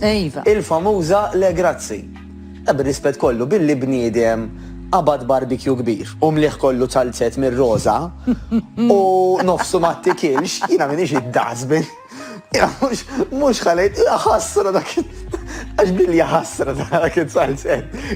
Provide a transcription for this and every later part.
Iva. Il-famuża Le grazzi. E bir-rispett kollu, billi bniedem qabad barbecue kbir u mlieh kollu ċalzett mir-roża u nofsu ma ttikilx, jiena m'iniex id-dustbin. Jiena mhux, mhux ħa ngħid, jaħasra dak it, għax billi jaħasra dak it-ċalzett.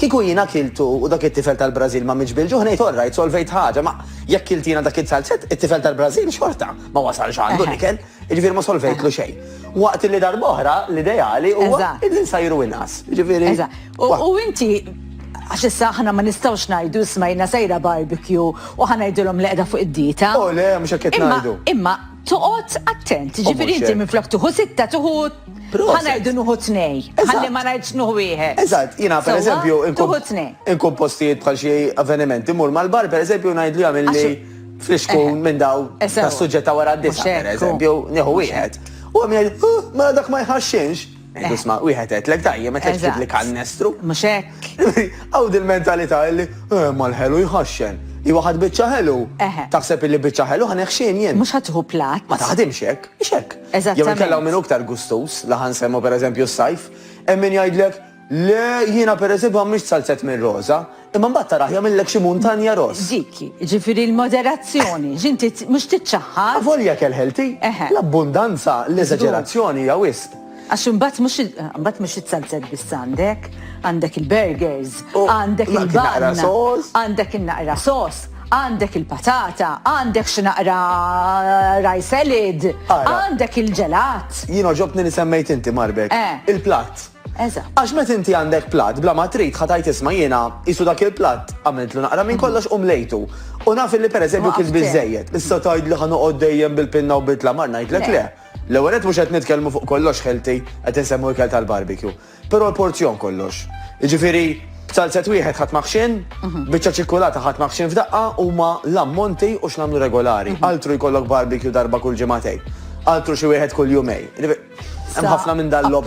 Kieku jiena kiltu u dak it-tifel tal-Brażil ma mietx bil-ġuħ ngħid all right, solvejt ħaġa, ma jekk kilt jiena dak is-salzett, it-tifel tal-Brażil xorta ma wasalx għandu l-ikel, jiġifieri ma solvejtlu xejn. Waqt li darb'oħra l-ideali huwa li nsajru inqas. Jiġifieri. U inti, għax issa aħna ma nistgħux ngħidu isma' jiena sejra barbecue u ħa ngħidilhom li qiegħda fuq id-dieta. O le, mhux hekk qed ngħidu. Imma toqgħod attent, jiġifieri inti minflok tieħu sitta tieħu Ħa ngħidu nuħu tnej, ħalli ma ngħidx nuħu wieħed. Eżatt, jiena pereżempju nkun postijiet bħal xi avvenimenti, mur mal-bar pereżempju ngħid li għamilli flixkun eh. minn daw eh, tas-suġġett ta' wara d-disa pereżempju, nieħu wieħed. U għam jgħid, oh, mela dak ma jħaxxinx. Eh. Isma, wieħed qed lek tajjem qed tgħid li kannestru. Mhux hekk. Għaw dil-mentalità li mal-ħelu jħaxxen. I waħad biċċa ħelu. Taħseb li biċċa ħelu ħaneħxin jien. Mhux ħadħu plat. Ma taħdimx hekk, x'hekk. Jew inkella hawn min hu iktar gustuż, l-aħħar nsemmu pereżempju s-sajf, hemm min jgħidlek, Le, jiena pereżempju ma mmix salzett minn roża, imma mbagħad taraħ jagħmillek xi muntanja ross. Dik hi, jiġifieri l-moderazzjoni, x'inti mhux tiċċaħħad. Avolja kelħelti, l-abbundanza, l-eżaġerazzjoni hija wisq. Għax imbagħad mhux imbagħad mhux is-salzett biss għandek, għandek il-burgers, għandek il-banana, għandek in-naqra sos. Għandek il-patata, għandek xi naqra rice salad, għandek il-ġelat. Jien oġobtni li semmejt inti Marbek. Eh. Il-platt. Eżatt. Għax meta inti għandek platt bla ma trid ħatajt isma' jiena isu dak il-platt għamiltlu naqra minn kollox u mlejtu. U naf li pereżempju kif biżejjed. Issa tgħid li ħanoqgħod dejjem bil-pinna u bitla mar ngħidlek le. L-ewwel qed mhux qed nitkellmu fuq kollox ħelti qed insemmu ikel tal-barbecue. Però l-porzjon kollox. Jiġifieri salzet wieħed ħadd maħxin, mhm. biċċa ċikkulata ħadd maħxin f'daqqa huma l-ammonti u x'namlu regolari. Mhm. Altru jkollok barbecue darba kull ġimagħtej. Altru xi wieħed kull jumej. Hemm ħafna minn dan l-lob